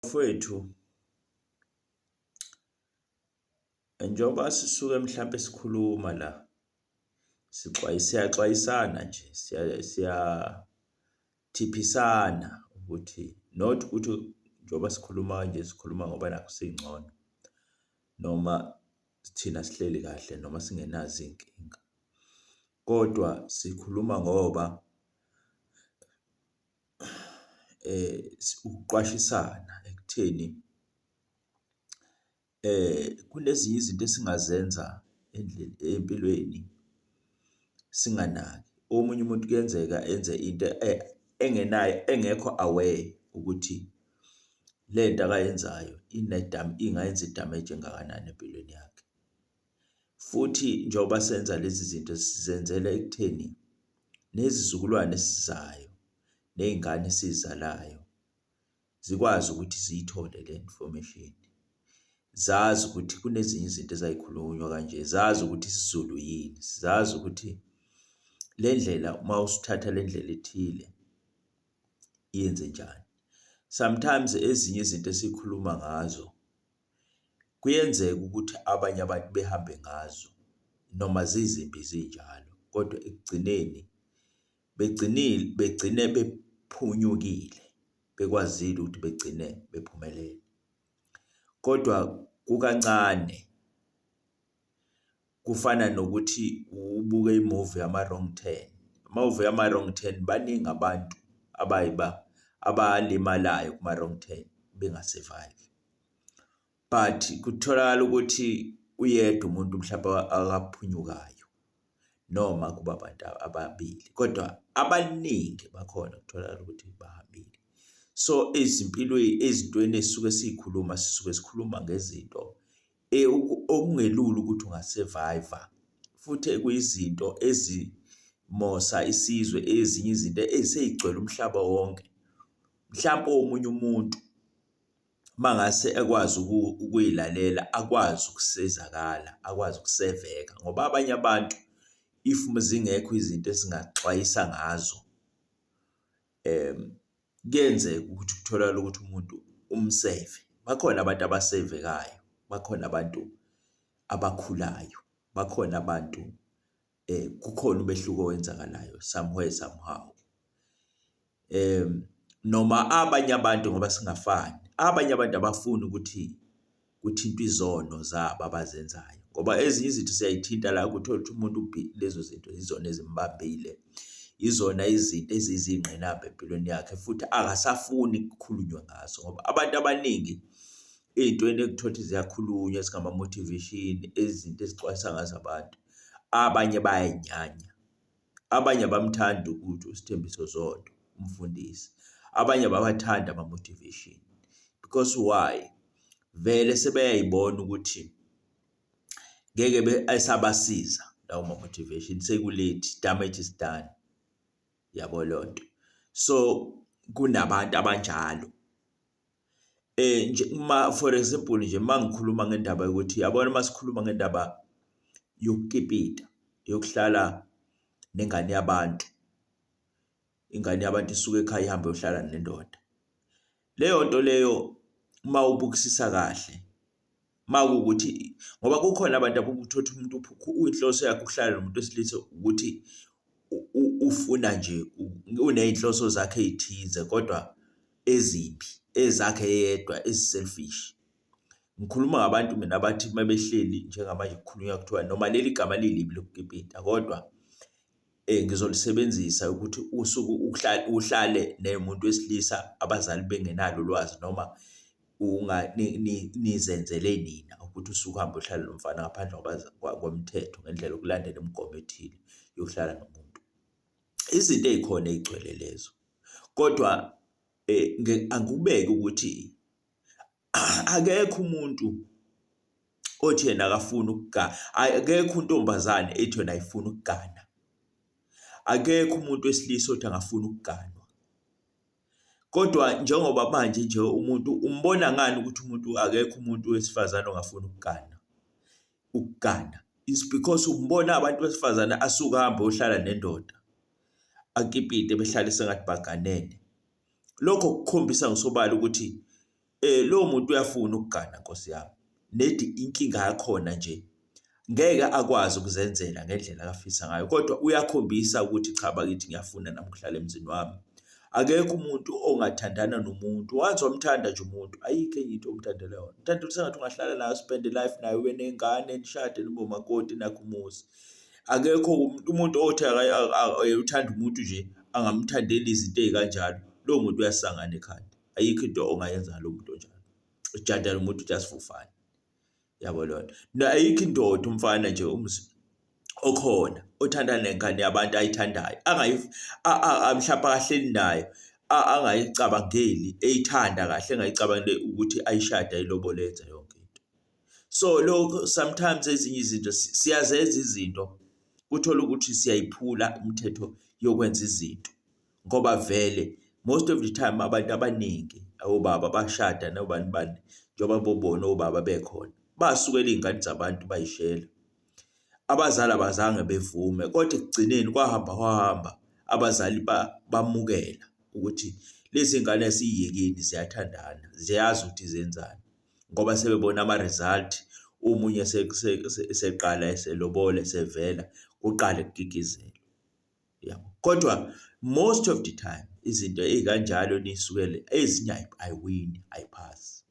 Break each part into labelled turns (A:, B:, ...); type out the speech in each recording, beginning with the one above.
A: Bafwethu njengoba sisuke mhlampe sikhuluma la siyaxwayisana nje siyathiphisana ukuthi not ukuthi njengoba sikhuluma kanje sikhuluma ngoba nakho singcono noma thina sihleli kahle noma singenazo iy'nkinga kodwa sikhuluma ngoba ukuqwashisana ekutheni kunezinye izinto esingazenza empilweni singanaki. Omunye umuntu kuyenzeka enze into engenayo, engekho aware ukuthi lento akayenzayo ingayenza i-damage engakanani empilweni yakhe. Futhi njengoba senza lezi zinto sizenzela ekutheni nezizukulwane esizayo nezingane esizalayo zikwazi ukuthi ziyithole le information. Zazi ukuthi kunezinye izinto ezayikhulunywa kanje, zazi ukuthi isiZulu yini, zazi ukuthi le ndlela uma usuthatha le ndlela ethile yenze njani. Sometimes ezinye izinto esikhuluma ngazo Kuyenzeka ukuthi abanye abantu behambe ngazo noma zizimbi zinjalo, kodwa ekugcineni begcinile, begcine bephunyukile, bekwazile ukuthi begcine bephumelele. Kodwa kukancane kufana nokuthi ubuke imovie yama-wrong turn. Amamuvi yama-wrong turn baningi abantu abayiba abalimalayo kuma-wrong turn benga-survive. But kutholakala ukuthi uyedwa umuntu mhlawumbe akaphunyukayo noma kuba abantu ababili kodwa abaningi bakhona kutholakala ukuthi bahambile. So ezimpilweni ezintweni esisuke siyikhuluma sisuke sikhuluma ngezinto e, okungelula ukuthi ungasurvive futhi ekuyizinto ezimosa isizwe ezinye izinto eziseyigcwele umhlaba wonke mhlawumbe omunye umuntu mangase ekwazi ukuyilalela akwazi ukusizakala akwazi ukuseveka ngoba abanye abantu if zingekho izinto esingaxwayisa ngazo Kuyenzeka ukuthi kutholakale ukuthi umuntu umseve. Bakhona abantu abasevekayo, bakhona abantu abakhulayo, bakhona abantu kukhona umehluko owenzakalayo somewhere somehow. Noma abanye abantu ngoba singafani, abanye abantu abafuni ukuthi kuthintwa izono zabo abazenzayo ngoba ezinye izinto siyayithinta la kuthola ukuthi umuntu lezo zinto yizona ezimbambile, yizona izinto ezizingqinamba empilweni yakhe futhi akasafuni kukhulunywe ngazo ngoba abantu abaningi ey'ntweni ekuthola ukuthi ziyakhulunywa ezingama-motivation, izinto ezixwayisa ngazo abantu, abanye bayay'nyanya. Abanye abamthandi ukuthi uSthembiso Zondo umfundisi. Abanye abawathandi ama-motivation because why? Vele sebeyayibona ukuthi ngeke esabasiza lawo ma-motivation sekulethi damage is done. Yabo loo nto. So kunabantu abanjalo. eh nje uma for example nje mangikhuluma ngendaba yokuthi yabona masikhuluma ngendaba yokukipita yokuhlala nengane yabantu ingane yabantu isuke ekhaya ihambe yohlala nendoda leyo nto leyo uma ubukisisa kahle uma kuwukuthi ngoba kukhona abantu abokuthothi umuntu inhloso yakhe ukuhlala nomuntu wesilisa ukuthi ufuna nje uney'nhloso zakhe ey'thize kodwa ezimbi ezakhe yedwa ezi-selfish. Ngikhuluma ngabantu mina abathi uma behleli njengamanje kukhulunywa kuthiwa noma leli gama lilibi lokukipita kodwa ngizolisebenzisa ukuthi usuke uhlale nemuntu wesilisa abazali bengenalo ulwazi noma nizenzele nina ukuthi usuhambe uhlale nomfana ngaphandle komthetho ngendlela yokulandela imigomo ethile yokuhlala nomuntu. Izinto ey'khona ey'gcwele lezo kodwa angikubeki ukuthi akekho umuntu othi yena akafuni ukugana akekho untombazane ethi yona ayifuni ukugana akekho umuntu wesilisa othi angafuni ukuganwa kodwa njengoba manje nje umuntu umbona ngani ukuthi umuntu akekho umuntu wesifazane ongafuni ukugana ukugana is because umbona abantu besifazane asuke ahambe ohlala nendoda akipite behlale sengathi baganene lokho kukhombisa ngosobala ukuthi eh lo muntu uyafuna ukugana nkosi yami nedi inkinga yakhona nje ngeke akwazi ukuzenzela ngendlela akafisa ngayo kodwa uyakhombisa ukuthi cha bakithi ngiyafuna namhlanje emzini wami akekho umuntu ongathandana nomuntu wazi wamthanda nje umuntu ayikho enye into omthandela yona uthanda ukuthi sengathi ungahlala nayo spend life nayo wenengane nishade nibomakoti nakho umuzi Akekho umuntu othi uthanda umuntu nje angamthandeli izinto ey'kanjalo. Lowo muntu uyasangana ekhanda. Ayikho into ongayenza ngalo muntu onjalo. Ujada lo muntu just for fun. Yabo leyo nto. Na ayikho indoda umfana nje okhona othanda nengane yabantu ayithandayo. Angayi mhlawumbe akahleli nayo angayicabangeli eyithanda kahle engayicabangeli ukuthi ayishada ilobole yenza yonke into. so lokho sometimes ezinye izinto siyazenza izinto kuthola ukuthi siyayiphula imithetho yokwenza izinto ngoba vele most of the time abantu abaningi obaba bashada nobani bani njengoba bobona obaba bekhona basukela iy'ngane zabantu bayishela abazali abazange bevume kodwa ekugcineni kwahamba kwahamba abazali bamukela ukuthi lezi ngane siyiyekeni ziyathandana ziyazi ukuthi zenzani ngoba sebebona ama-result omunye seqala eselobole sevela kuqale kukikizelwe yabo kodwa most of the time izinto ey'kanjalo nisukele ezinye ayiwini ayiphasi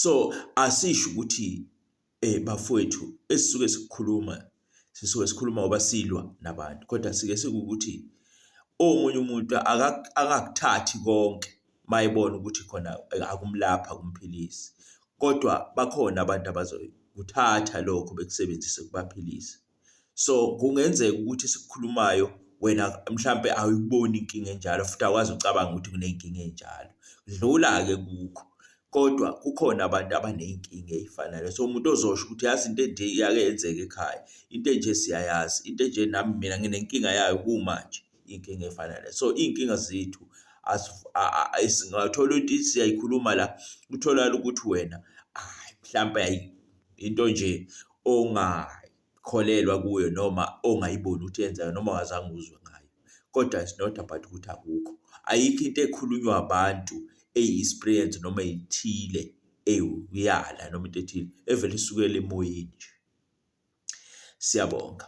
A: so asisho ukuthi Eh bafowethu esisuke sikukhuluma sisuke sikhuluma ngoba silwa nabantu kodwa sike sikukuthi omunye umuntu akakuthathi konke mayibona ukuthi khona akumlapha kumphilisi kodwa bakhona abantu abazoyikuthatha lokho bekusebenzise kubaphilise. So kungenzeka ukuthi esikukhulumayo wena mhlampe awuyiboni inkinga enjalo futhi awazi ucabanga ukuthi kuney'nkinga ey'njalo. Dlula-ke kukho. Kodwa kukhona abantu abaney'nkinga ey'fanayo. So umuntu ozosho ukuthi yazi into enje iyake yenzeka ekhaya, into enje siyayazi, into enje nami mina nginenkinga yayo kumanje, inkinga efana naleyo. So iy'nkinga zethu singathola ukuthi siyayikhuluma la, kutholakale ukuthi wena hhayi mhlampe hhayi into nje ongakholelwa kuyo noma ongayiboni ukuthi yenzayo noma wazange uzwe ngayo kodwa it's not about ukuthi akukho ayikho into ekhulunywa abantu eyi-experience noma ithile eyala noma into ethile evele isukela emoyeni nje siyabonga